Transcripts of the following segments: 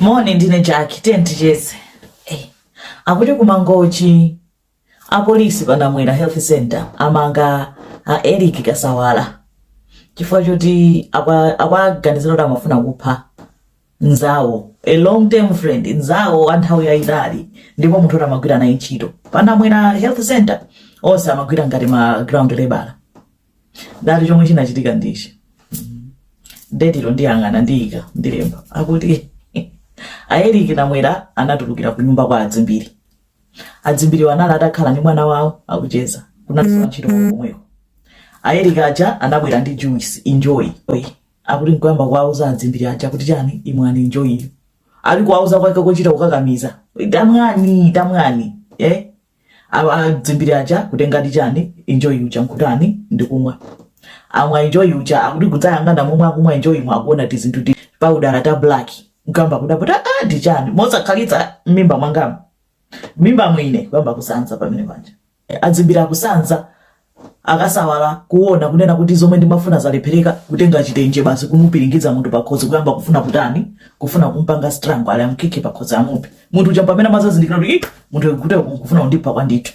moni ndine jaki tiyeni ticheze hey. Eh, akuti ku mangochi apolisi pa namwera health center amanga a eric kasawala chifukwa choti akwaganizira kuti amafuna kupha nzawo a long term friend nzawo a nthawi yayitali ndipo munthu oti amagwira naye ntchito pa namwera health center onse amagwira ngati ma ground labor dati chomwe chinachitika ndichi detilo ndiyang'ana ndiyika ndilemba akuti a eric namwera anatulukira ku nyumba kwa adzimbiri adzimbiriwo anali atakhala ndi mwana wawo akucheza kunalinso wantchito komweko a eric aja anabwera ndi juice enjoy Oy, akuti nkuyamba kuwauza adzimbiri aja kuti chani imwani enjoy ali kuwauza kwake kochita kukakamiza tamwani tamwani eh? awa adzimbiri aja kutenga ndi chani enjoy uja nkutani ndikumwa amwa enjoy uja akuti kudzayang'ana momwe akumwa enjoymo akuona tizinthu ti paudala ta black nkuyamba kudabwa kuti ah ndi chani mosakhalitsa mmimba mwangamu mmimba mwa ine kuyamba kusanza pamene paja adzimbiri kusanza akasawala kuona kunena kuti zomwe ndimafuna zalephereka kutenga chitenje basi kumupiringiza munthu pakhosi kuyamba kufuna kutani kufuna kumpanga strangle ali amkhike pakhosi amuphe munthu uja pamene amadzazindikira kuti "Ih, munthu akutereku akufuna kundipha kwandithu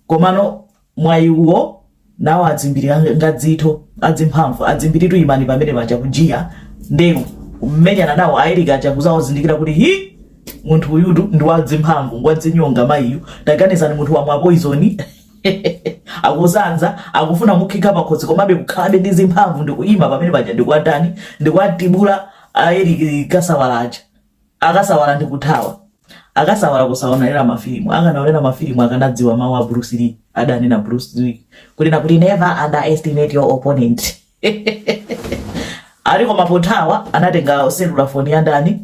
komano mwayiwo nawo adzimbiri aja ngadzitho adzimphamvu adzimbiritu imani pamene paja kujiya ndeu kumenyana nawo a eric aja kudzawazindikira kuti hi munthu uyutu ndi wadzimphamvu ngwadzinyonga mayiyu taganizani munthu wamwa poizoni akusanza akufuna mukhika pakhosi komabe kukhalabe ndi zimphamvu ndikuyima pamene paja ndikuwatani ndikuwatibula a eric kasawala aja akasawala ndikuthawa akasawala kusaonera mafilimu akanaonera mafilimu akanadziwa mawu a bruce lee adanena bruce lee kunena kuti never underestimate your opponent ali koma pothawa anatenga selula foni ya ndani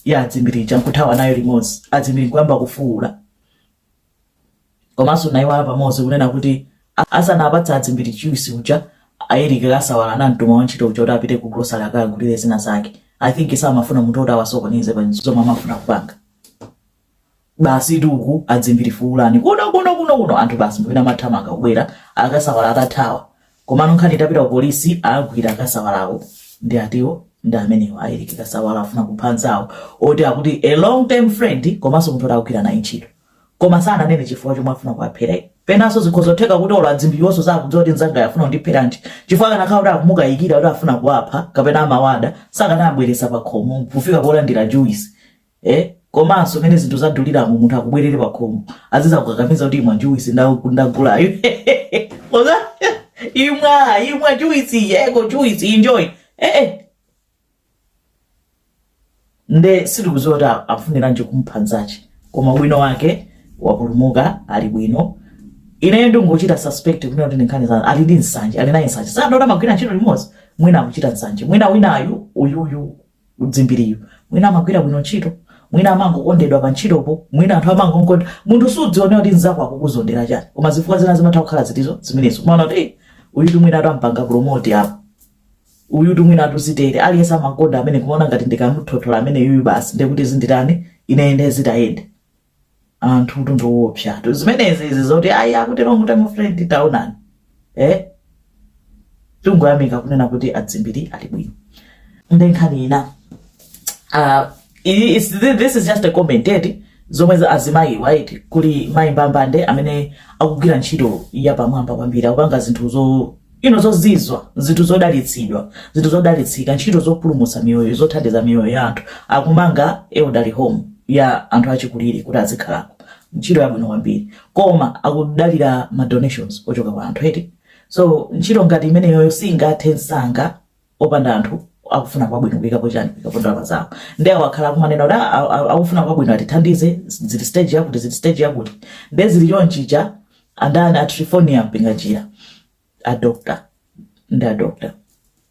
ya adzimbiri aja nkuthawa nayo limodzi adzimbiri kuyamba kufuwula Komanso ndaiwala pamodzi kunena kuti asanawapatse adzimbiri juice uja a Eric kasawala anamtuma wantchito uja kuti apite ku grocery akagulire zina zake I think samafuna munthu oti awasokoneze pa zomwe amafuna kupanga basi tuku adzimbiri fuulani kuno kuno kuno kuno anthu basi mmene amathamanga kubwera akasawala atathawa Komano nkhani itapita ku polisi, awagwira akasawalawo ndi atiwo ndi amenewo a eric kasawala afuna kupha nzawo oti akuti a long term friend komanso munthu oti akugwira naye ntchito koma sananene chifukwa chomwe afuna kuwaphera iye. Penanso zikhoza kutheka kuti olo adzimbiriwonso sakudziwa kuti mnzangayo afuna kundipheranji chifukwa akanakhala kuti akumukayikira kuti afuna kuwapha kapena amawada sakanawabweretsa pakhomo kufika polandira juwisi eh komanso mmene zinthu zaduliramu munthu akubwerere pakhomo azizakukakamiza kuti imwa juice ndagulayo oza imwa imwa juice yeko juice enjoy eh, eh. nde sitikuziwa kuti afuniranji kupha nzake koma bwino wake wapulumuka ali bwino ineyo ndingochita suspect kunena kuti ndinkhani zanu ali ndi nsanje ali naye nsanje si adati amagwira ntchito limodzi mwina akuchita nsanje mwina winayu uyuyu Dzimbiriyu mwina amagwira bwino ntchito mwina amangokondedwa pa ntchitopo mwina anthu amangomuda munthu suziona kuti mzako akukuzondera chani koma zifukwa zina zimatha kukhala zoterozo zimenezo umaona kuti "Eh, uyutu mwina atampanga promote apa uyutu mwina atidzitere aliyense amakonda ameneyu kumaona ngati ndikamuthothola ameneyuyu basi ndekuti zinditani ine nde zindiyendere anthutu ndiwoopsatu zimenezi izi zoti ayi akutero mutemo fred taonani eh? tingoyamika kunena kuti a Dzimbiri ali bwino nde nkhani ina uh, this is just a comment eti eh, zomwe za azimayi right kuli Mayi Mbambande amene akugwira ntchito ya pamwamba kwambiri akupanga zinthu ino zozizwa zinthu zodalitsidwa zinthu zodalitsika ntchito zopulumutsa miyoyo zothandiza miyoyo ya anthu akumanga elderly home ya anthu achikulire kuti azikhalako ntchito yabwino kwambiri koma akudalira ma donations ochoka kwa anthu eti so ntchito ngati imeneyoyo singathe msanga opanda anthu akufuna kwabwino kuikapo chani kuikapo ndalama zawo nde awo akhala akumanena kuti "Ah, ah, ah, akufuna kwabwino atithandize zili stage yakuti zili stage yakuti nde zili choncho ija andani a Triphornia Mpinganjira a doctor ndi a doctor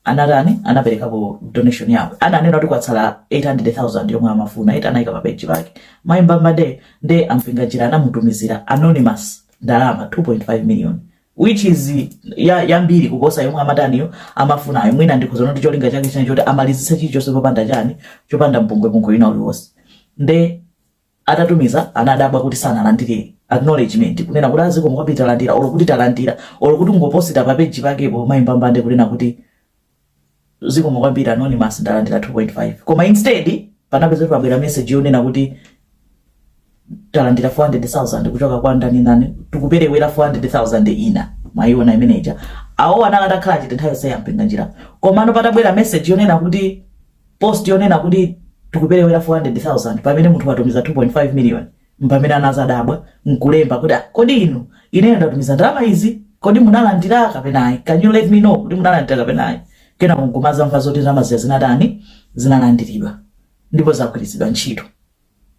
anatani anaperekapo donation yawo ananena kuti kwatsala 800000 yomwe amafuna eti anayika pa page pake Mayi Mbambande nde a Mpinganjira anamutumizira anonymous ndalama 2.5 million which is ya, yambiri kuposa yomwe amataniyo amafunayo mwina ndikuona kuti cholinga chake chinali choti amalizitse chilichonse chopanda chani chopanda mpungwepungwe wina uliwonse nde atatumiza anadabwa kuti sanalandire acknowledgement kunena kuti a zikomo kwambiri talandira olo kuti talandira olo kungoposita pa page pakepo Mayi Mbambande kunena kuti zikomo kwambiri anonymous ndalandira 2.5 koma instead panapeza kuti pabwera message yonena kuti talandira 400000 kuchoka kwa ndani ndani tikuperewera 400000 ina mwayiona imeneja awo anali atakhala chete nthawi yonseyi a Mpinganjira komano patabwera message yonena kuti post yonena kuti tikuperewera 400000 pamene munthu watumiza 2.5 million mpamene anazadabwa nkulemba kuti "Ah, kodi inu ineyo ndatumiza ndalama izi kodi munalandira kapena ayi can you let me know kuti munalandira kapena ayi kenako nkumazamva zoti ndalama zija zinatani zinalandiridwa ndipo zagwiritsidwa ntchito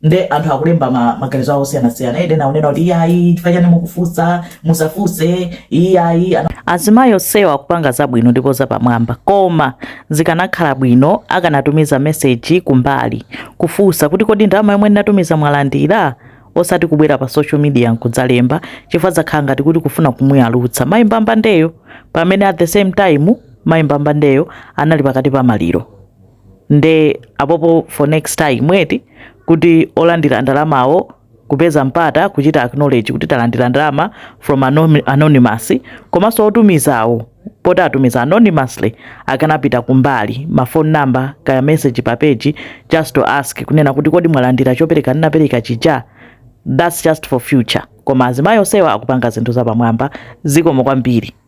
nde anthu akulemba ma- maganizo awo osiyanasiyana ena akunena kuti iyayi chifukwa chani mukufunsa musafunse iyayi ana- azimayi onsewa akupanga zabwino ndipo zapamwamba koma Zikanakhala bwino akanatumiza message kumbali kufunsa kuti kodi ndalama yomwe ndinatumiza mwalandira? Osati kubwera pa social media nkudzalemba chifukwa zakhala ngati kuti kufuna kumuyalutsa Mayi Mbambandeyo pamene at the same time Mayi Mbambandeyo anali pakati pa maliro. Nde apopo for next time eti kuti olandira ndalamawo kupeza mpata kuchita acknowledge kuti talandira ndalama from anom- anonymous komanso otumizawo poti atumiza anonymously akanapita kumbali ma phone number kaya message pa page just to ask kunena kuti kodi mwalandira chopereka ndinapereka chija that's just for future koma azimayi onsewa akupanga zinthu zapamwamba zikomo kwambiri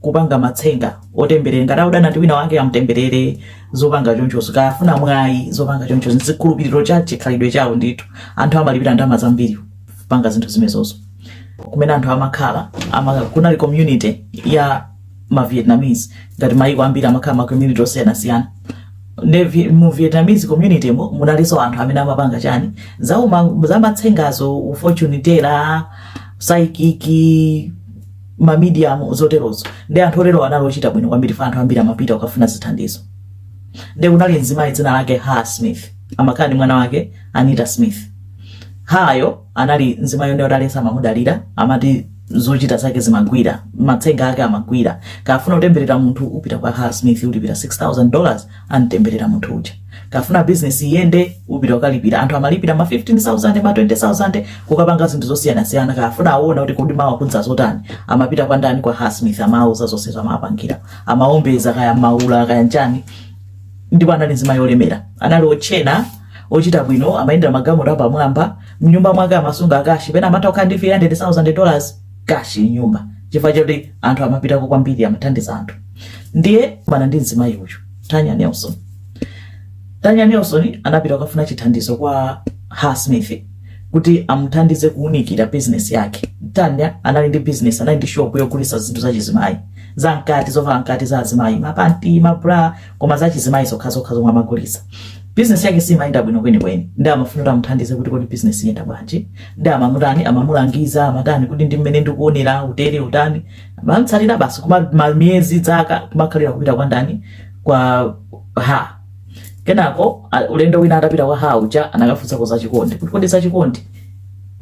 kupanga matsenga otemberera ngati akudana ndi wina wake amutemberere zopanga chonchozo ukafuna mwayi zopanga chonchozo ndizikhulupiriro cha chikhalidwe chawo ndithu anthu amalipira ndalama zambiri kupanga zinthu zimenezozo kumene anthu amakhala ama, kunali community ya ma vietnamese ngati mayiko ambiri amakhala ma community osiyanasiyana ne vi- mu vietnamese community mo munalinso anthu amene amapanga chani zauma zamatsengazo u fortune teller psychic mamedium zoterozo nde anthu otero anali ochita bwino kwambiri fa anthu ambiri amapita kukafuna zithandizo nde kunali mzimayi dzina lake ha smith amakhala ndi mwana wake anita smith hayo anali mzimayi wodalirika amamudalira amati zochita zake zimagwira matsenga ake amagwira ukafuna kutemberera munthu upita kwa ha smith ulipira 6000 dollars antemberera munthu uja ukafuna bizinesi iyende upita ukalipira anthu amalipira ma 15000 ma 20000 kukapanga zinthu zosiyanasiyana akafuna aone kuti kodi mawa kudzadza zotani amapita kwa ndani kwa ha smith amauza zonse zamapangira amaombeza kaya maula kaya nchani ndipo anali nzimayi olemera anali otchena ochita bwino amayendera magalimoto apamwamba mnyumba mwake amasunga kashi pena amatha kukhala ndi 300000 dollars kashi mnyumba chifukwa choti anthu amapitako kwambiri amathandiza anthu ndiye kumana ndi mzimayi uyu tanya nelson tanya nelson anapita kukafuna chithandizo kwa ha smith kuti amuthandize kuunikira bizinesi yake tanya anali ndi bizinesi anali ndi shopu yogulitsa zinthu za chizimayi za mkati zovala za mkati za azimayi mapanti mabra koma za chizimayi zokhazokha zomwe amagulitsa bizinesi yake simayenda bwino kwenikweni nde amafuna kuti amuthandize kuti kodi bizinesi iyenda bwanji nde amamutani amamulangiza amatani kuti ndi mmene ndikuonera utere utani amamtsatira basi kuma ma- miyezi dzaka kumakhalira kupita kwa ndani kwa ha kenako a- ulendo wina atapita kwa ha uja anakafunsako za chikondi kuti kodi za chikondi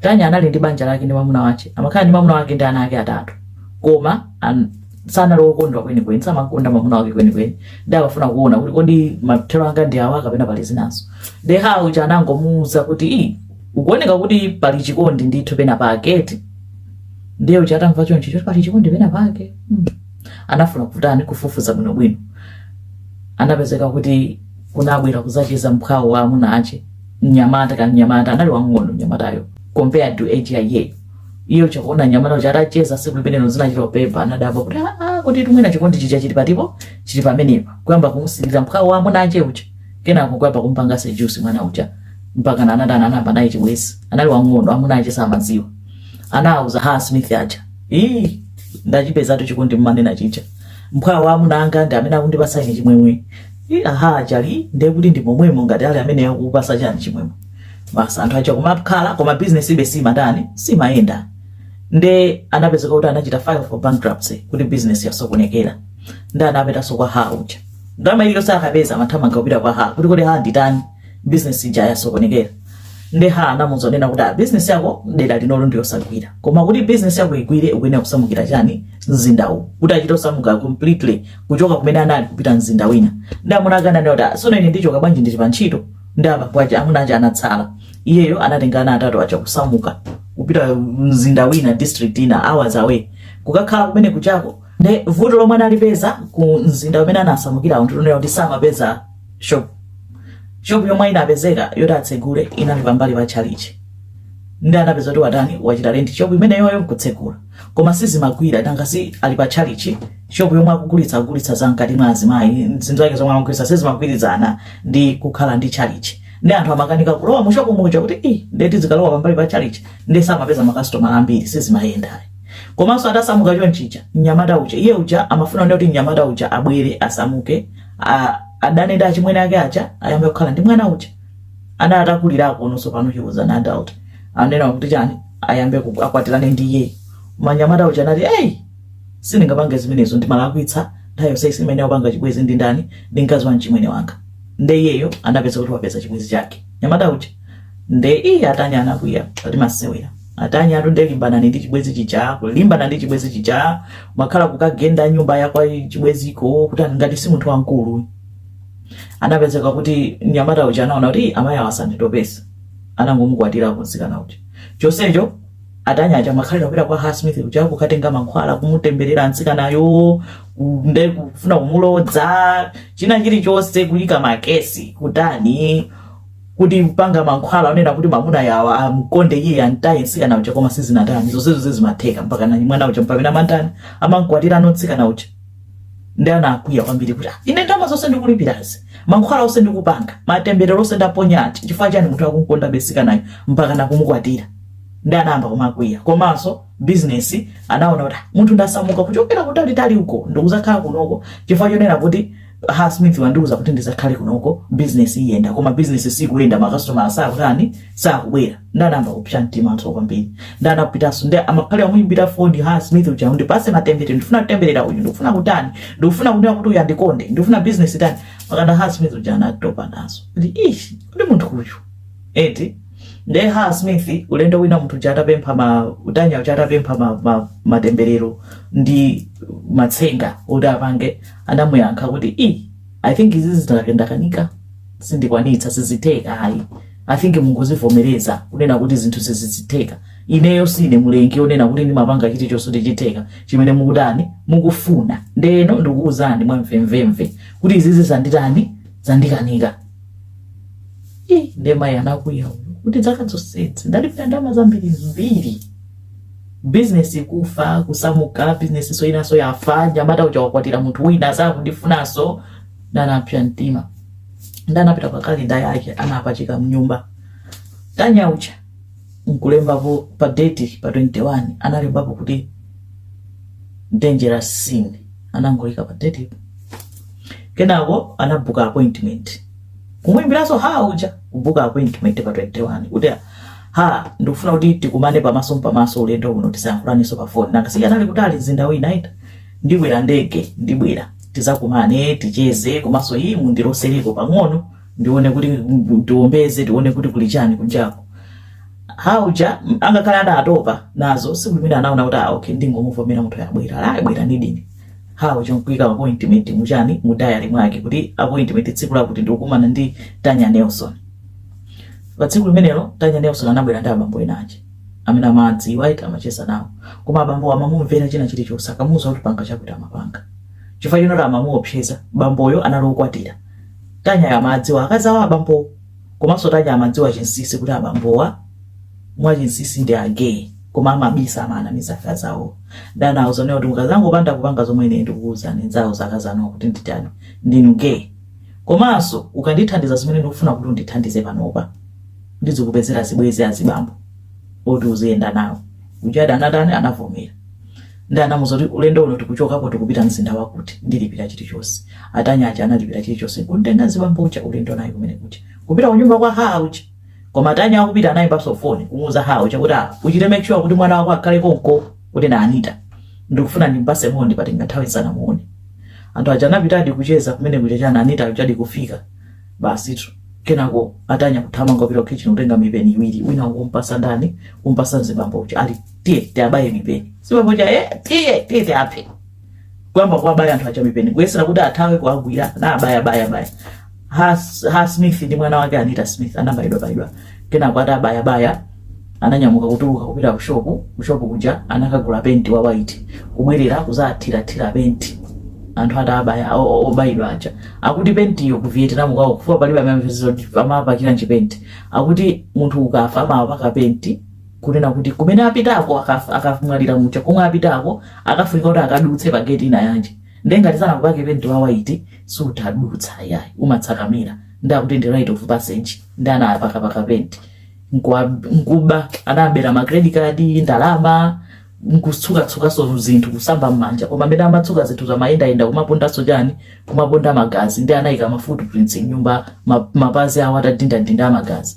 tanya anali ndi banja lake ndi mamuna wake amakhala ndi mamuna wake ndi ana ake atatu koma an, sanali wokondwa kwenikweni samakonda mwamuna wake kwenikweni ndi amafuna kuona kuti kodi mathero anga ndi awa kapena pali zinazo ndi ha uja anangomuuza kuti "Ii, ukuoneka kuti pali chikondi ndithu pena pake eti ndiye uja atamva chonchi choti pali chikondi pena pake mm. anafuna kutani kufufuza bwinobwino anapezeka kuti kunabwera kuzacheza mphwawo wa amuna ache mnyamata ka mnyamata anali wang'ono mnyamatayo compared to age ya iyeyo iye uja kuona mnyamata uja atacheza siku limenelo zinachita upepa anadabwa kuti "Ah, ah, kuti mwina chikondi chija chili patipo chili pamenepa kuyamba kumusilira mphwawo wa amuna ache uja kenako kuyamba kumpanga seduce mwana uja mpaka na anati anayamba naye chibwezi anali wang'ono amuna ache samaziwa anawuza ha smith aja ii ndachipezatu chikondi mumanena chija mphwawo wa amuna anga ndi amene akundipasa ine chimwemwe Ii, a ha aja ali ndekuti ndi momwemo ngati ali amene akupasa chani chimwemwe basi anthu aja kumakhala koma business ibe simatani simayenda nde anapezeka kuti anachita file for bankruptcy kuti business yasokonekera nde anapitanso kwa ha uja ndalama iliyonse akapeza amathamanga kupita kwa ha kuti kodi ha nditani business ija yasokonekera nde ha anamuuza kunena kuti "Ah, business yako dera linolo ndiyosagwira koma kuti business yako igwire ukuyenera kusamukira chani mzinda uwu kuti achite kusamuka completely kuchoka kumene anali kupita mzinda wina nde amuna ake ananena kuti "Ah, sono ine ndichoka bwanji ndili pa ntchito ndi abambo aja amuna aja anatsala iyeyo anatenga ana atatu aja kusamuka kupita mzinda wina district ina hours away kukakhala kumene kujako nde vuto lomwe analipeza ku mzinda umene anasamukirawo ndi kunena kuti samapeza shop shop yomwe inapezeka yoti atsegule inali pambali pa chalichi ndi anapeza kuti watani wachita rent shop imeneyoyo nkutsegula koma sizimagwira nanga si ali pa tchalichi shopu yomwe akugulitsa akugulitsa za mkati mwa azimayi zinthu zake zomwe amagulitsa sizimagwirizana ndi kukhala ndi tchalichi ndi anthu amakanika kulowa mu shopu muja kuti i ndeti zikalowa pambali pa tchalichi ndi samapeza makasitomala ambiri sizimayenda komanso atasamuka chonchija mnyamata uja iye uja amafuna kuti mnyamata uja abwere asamuke a- adane ndi achimwene ake aja ayambe kukhala ndi mwana uja ana atakulirako tsopano he was an adult anena kuti chani ayambe ku- akwatirane ndi iye mnyamata uja anati hey sindingapange zimenezo ndimalakwitsa nthawi yonse imene wapanga chibwezi ndi ndani ndi mkazi wa mchimwene wanga nde iyeyo anapeza kuti wapeza chibwezi chake mnyamata uja nde iye anatani anakwiya kuti masewera atani atha nde kulimbana ndi chibwezi chija kulimbana ndi chibwezi chija kumakhala kukagenda nyumba yakwa chibweziko kuti ngati si munthu wamkulu anapezeka kuti mnyamata uja anaona kuti "Ih, amayi awa asanditopese anangomukwatira mtsikana uja chonsecho a Tanya aja amakhalira kupita kwa Ha Smith kuja kukatenga mankhwala kumutemberera mtsikanayo nde kufuna kumulodza china chilichonse kuyika makesi kutani kupanga mankhwala onena kuti mwamuna uja amkonde iye antaye mtsikana uja koma sizinatani zonsezo zimatheka mpakana mnyamata uja mpamene amantani amankwatirano mtsikana uja nde anakwiya kwambiri kuti "Ah, ine ndalama zonse ndikulipirazi mankhwala onse ndikupanga matemberero onse ndaponyawa chifukwa chani munthu akunkondabe mtsikanayo mpaka nakumukwatira nde anayamba kumakwiya komanso bizinesi anaona kuti "Ah, munthu ndasamuka kuchokera kutalitali uko ndikuzakhala kunoko chifukwa chonena kuti Ha Smith wandiuza kuti ndizakhale kunoko bizinesi iyenda koma bizinesi sikuyenda makasitomala sakutani sakubwera nde anayamba kupsa mtimanso kwambiri nde anapitanso ndi amakhalira kumuyimbira foni Ha Smith uja ndipase matemberero ndifuna kutemberera uyu ndikufuna kutani ndikufuna kunena kuti uyu andikonde ndikufuna business itani mpakana Ha Smith uja anatopa nazo kuti ishi ndi munthu uyu eti nde Ha Smith ulendo wina munthu uja atapempha ma Tanya uja atapempha ma, ma, matemberero ndi matsenga kuti apange anamuyankha kuti i i think izi zandikanika sindikwanitsa sizitheka ayi I think mungozivomereza kunena kuti zinthu sizitheka. Ineyo sine mulengi onena kuti ndimapanga chilichonse nkutheka chimene mukutani mukufuna. Ndeno ndikuwuzani mwamvemvemve kuti izizi zanditani zandikanika. Ii, nde mayi anakwiya uyu kuti zaka zonsezi ndalipira ndalama zambirimbiri bizinesi kufa kusamuka bizinesiso inaso yafa nyamata uja wakwatira munthu wina sakundifunanso nde anapsa mtima nde anapita pa kalenda yake anapachika mnyumba Tanya uja nkulembapo pa date pa 21 analembapo kuti dangerous sin anangoyika pa date kenako anabuka appointment kumwimbiranso Ha uja kubuka appointment pa 21 kuti Ha ndikufuna kuti tikumane pamaso mpamaso ulendo uno tisayankhulaninso pa foni nanga si anali kutali mzinda wina ita ndibwera ndege ndibwera tizakumane ticheze komanso iyi mundilosereko pang'ono ndione kuti mundiombeze tione kuti kuli chani kunjako Ha uja angakhale adatopa nazo tsiku limenelo anaona kuti ah, okay ndingomuvomera munthuyo abwera azabwera ndi ine Ha uja nkuika appointment muchani mu diary mwake kuti appointment tsiku lakuti ndikukumana ndi Tanya Nelson pa tsiku limenelo Tanya Nelson anabwera ndi abambo ena aja amene amadziwa eti amacheza nawo koma abambo amamumvera china chilichonse akamuuza kuti panga chakuti amapanga chifukwa chinoti amamuopseza bamboyo anali okwatira tanyayo amadziwa akazi awo abambowo komanso tanyayo amadziwa chinsisi kuti abambowa mwachinsisi ndi agay koma amabisa amanamiza akazi awo nde anawauza zonena kuti mukazangopanda kupanga zomwe ine ndikukuuzani nzawauza akazi anuwo kuti nditani ndinu gay komanso ukandithandiza zimene ndikufuna kuti undithandize panopa ndizikupezera zibwezi azibambo oti uziyenda nawo uja nde anatani anavomera nde anamuuza kuti ulendo uno tikuchokako tikupita mzinda wakuti ndilipira chilichonse atanya aja analipira chilichonse kumtenga mzibambo uja ulendo naye kumene kuja kupita kunyumba kwa Ha uja koma atanya akupita anayimbaso foni kumuuza Ha uja kuti "Ah, uchite make sure kuti mwana wako akhale konko kuti na anita ndikufuna ndimpase moni patenga nthawi nsanamuone anthu aja anapitadi kucheza kumene kuja a Anita ajadi kufika basitu kenako atanya kuthamanga kupita kukhitchini kutenga mipeni iwiri wina nkumpasa ndani kumpasa mzibambo uja ali tiye tiabaye mipeni mzibambo uja e tiye tiye tiaphe kuyamba kuwabaya anthu aja mipeni kuyesera kuti athawe kuwagwira nawabaya baya baya ha, ha smith ndi mwana wake anita smith anabayidwa bayidwa kenako atabaya baya ananyamuka kutuluka kupita kushopu kushopu kuja anakagula penti wa white kubwerera kuzathirathira penti anthu atabaya o- o- obayidwa aja akuti pentiyo ku vietnam kwawo chifukwa palibe amene amapakira ntchipenti akuti munthu ukafa amapaka penti kunena kuti kumene apitako akaf- akamwalira muja komwe apitako akafunika kuti akadutse pa gate inayake ndiye ngati sanakupake penti wa white sutadutsa yayi umatsakamira nde akuti ndi rite of passage nde anawapakapaka penti Nkuwa- nkuba anabera ma credit card ndalama nkutsukatsukaso zinthu kusamba m'manja koma mmene amatsuka zinthuzo amayendayenda kumapondaso chani kumaponda magazi nde anayika ma footprints m'nyumba ma- mapazi awo atadindadinda amagazi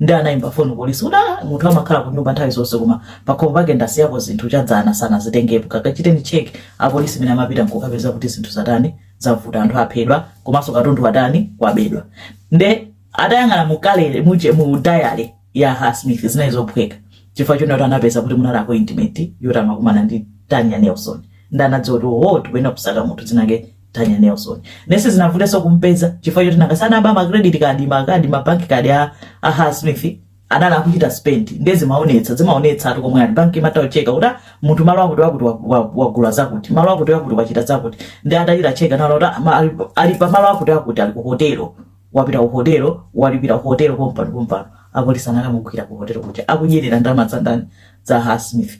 nde anayimba foni polisi kuti "Ah, munthu amakhala kunyumba nthawi zonse koma pakhomo pake ndasiyako zinthu chadzana sanazitengepo kakachiteni cheki apolisi mmene amapita nkukapeza kuti zinthu zatani zavuta anthu aphedwa komanso katundu watani wabedwa nde atayang'ana mu kalere mu, che- mu diary ya ha smith zinali zophweka chifukwa chonena kuti anapeza kuti munali appointment yoti amakumana ndi tanya nelson nde anadziwa kuti oho tikuyenera kusaka munthu dzinake Tanya Nelson. Nde sizinavuteso kumpeza chifukwa choti nanga si anaba ma credit card, ma card, ma bank card a a Ha Smith anali akuchita spend ndiye zimaonetsa zimaonetsa ati komwe ali banki imatha kucheka kuti ah, munthu malo akuti wakuti wa- wa- wagula zakuti malo akuti wakuti wachita zakuti nde atachita check anaona kuti ah, ma- ali- ali pa malo akuti akuti ali ku hotelo wapita ku hotelo walipira ku hotelo pompano pompano apolisi anakamugwira ku hotelo kuja akudyerera ndalama za ndani za Ha Smith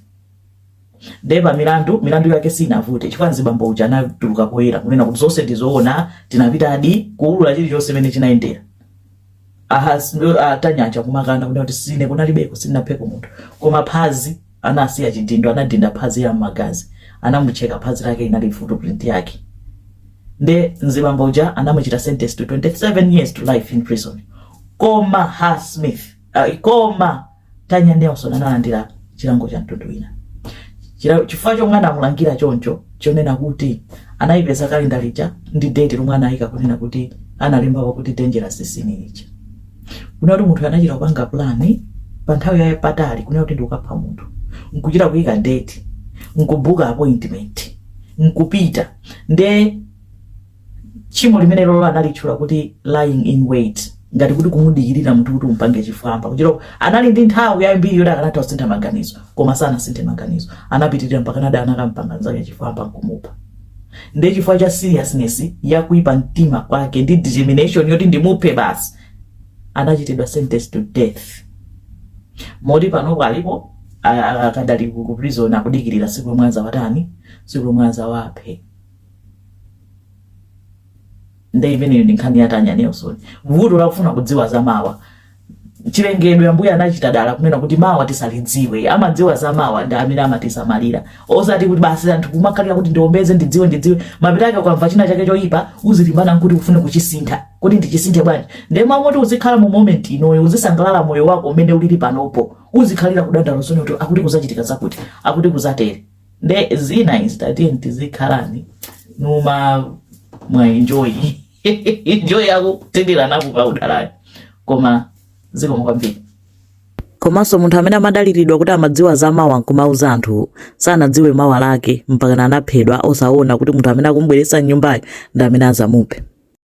Nde pa milandu milandu yake sinavute chifukwa nzibambo uja anatuluka poyera kunena kuti zonse ndizoona tinapitadi kuulula chilichonse mmene chinayendera a Tanya aja kumakana kunena kuti sine kunalibeko sinapheko munthu koma phazi anasiya chidindo anadinda phazi ya magazi anamucheka phazi lake inali footprint yake nde nzibambo uja anamuchita sentence to 27 years to life in prison koma Ha Smith Ayi, koma Tanya Nelson analandira chilango cha mtundu wina Chila- chifukwa chomwe anamulangira choncho chonena kuti anayipeza kalendala ija ndi date lomwe anayika kunena kuti analembapo kuti dangerous sin lija kunena kuti munthu anachita kupanga pulani pa nthawi ya patali kunena kuti ndikukapha munthu nkuchita kuyika date nkubuka appointment nkupita nde tchimo limenelo analitchula kuti lying in wait ngati kuti kumudikirira munthu kuti umpange chifwamba kutero anali ndi nthawi yambiri yoti akanatha kusintha maganizo koma sanasinthe maganizo anapitirira mpakanadi anakampanga nzake chifwamba nkumupha ndiye chifukwa cha seriousness ya kuipa mtima kwake ndi determination yoti ndimuphe basi anachitidwa sentence to death moti panopo alipo a- a- akadali ku ku prison akudikirira siku lomwe azawatani siku lomwe azawaphe nde imeneyo ndi nkhani ya Tanya Nelson vuto lakufuna kudziwa za mawa chilengedwe ambuye anachita dala kunena kuti mawa tisalidziwe amadziwa za mawa ndi amene amatisamalira osati kuti basi anthu kumakhalira kuti ndiombeze ndidziwe ndidziwe mapeto ake ukamva china chake choyipa uzilimbana nkuti ufune kuchisintha kuti ndichisinthe bwanji nde mmalo moti uzikhala mu moment inoyo uzisangalala moyo wako umene ulili panopo uzikhalira kudandaula zonena kuti akuti kuzachitika zakuti akuti kuzatere nde zina izi tatiye tizikhala nkumamwa Enjoy Enjoy yako tindira napo pa udalali koma zikomo kwambiri komanso munthu amene amadaliridwa kuti amadziwa za mawa nkumauza anthu sanadziwe mawa lake mpakana anaphedwa osaona kuti munthu amene akumubweretsa mnyumbayo ndi amene azamuphe